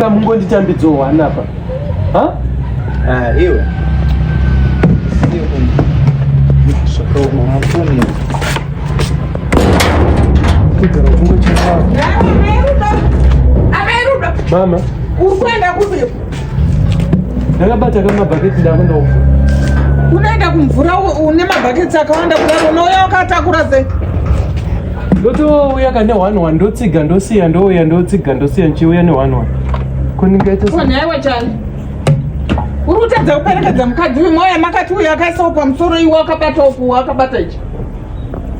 Kamungonditambidzowo hanapa. Ha? Ah, iwe. Sio kumbe. Zvakaoma mafoni. Kugara kungo chakao. Ameruda. Mama. Ukwenda kupi? Ndakabata kama baketi ndakwenda uko. Unaenda kumvura une mabhaketsi akawanda kudaro unouya wakatakura sei? ndotouya ka nehwani wani ndotsiga ndosiya ndouya ndotsiga ndosiya ndichiuya nehwani wani kundingaitaonaiwa chani uri kutadza kuperekedza mukadzi uyu mauya makati uyu akaisawo pamusoro iwe akabata uku akabata ichi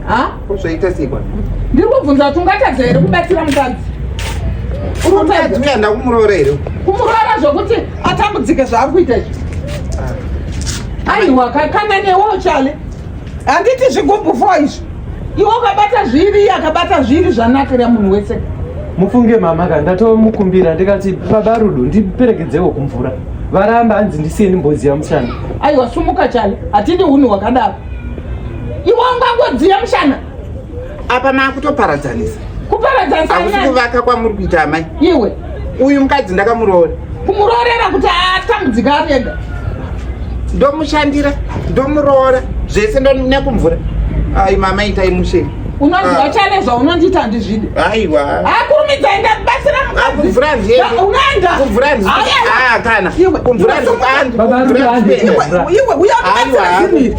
ha zvaita sikwa ndiri kubvunza kuti ungatadza here kubatsira mukadzi uri kutadza uyaenda kumuroora here kumuroora zvokuti atambudzike zvaari kuita ichi ah. aiwa kakana newo chale handiti zvigubhu fo izvi iwe ukabata zviri iye akabata zviri zvanakira munhu wese mufunge mama ka ndatomukumbira ndikati baba rudo ndiperekedzewo kumvura varamba hanzi ndisiye ndimboziva mushana aiwa sumuka chale hatidi unhu hwakadaro iwe ungangodziya mushana apa makutoparadzanisa kuparadzanisa akusi kuvaka kwamuri kuita amai iwe uyu mukadzi ndakamuroora kumuroorera kuti atambudzika ari ega ndomushandira ndomuroora zvese nekumvura ai mama itai mushe unoziva ah. chane zvaunondiita ndizvidi aiwa akurumidza enda batsira mukazikuvhurakana ah, ah, kumvura ndipandibaba ruka andiiwe uya kubatsira zvinii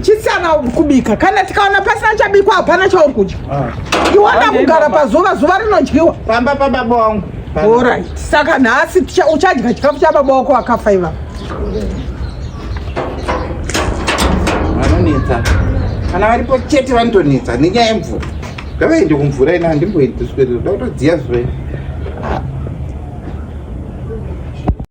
chisiyana kubika kana tikaona pasina chabikwa hapana chauri kudya ah. iwana kugara pazuva zuva rinodyiwa pamba pababa wangu orit saka nhasi uchadya chikafu chababa wako wakafa ivavo vanonetsa kana varipo chete vanotonetsa nenyaya yemvura ngavaende kumvura ina handimboendi kuswere ndoda kutodziya zve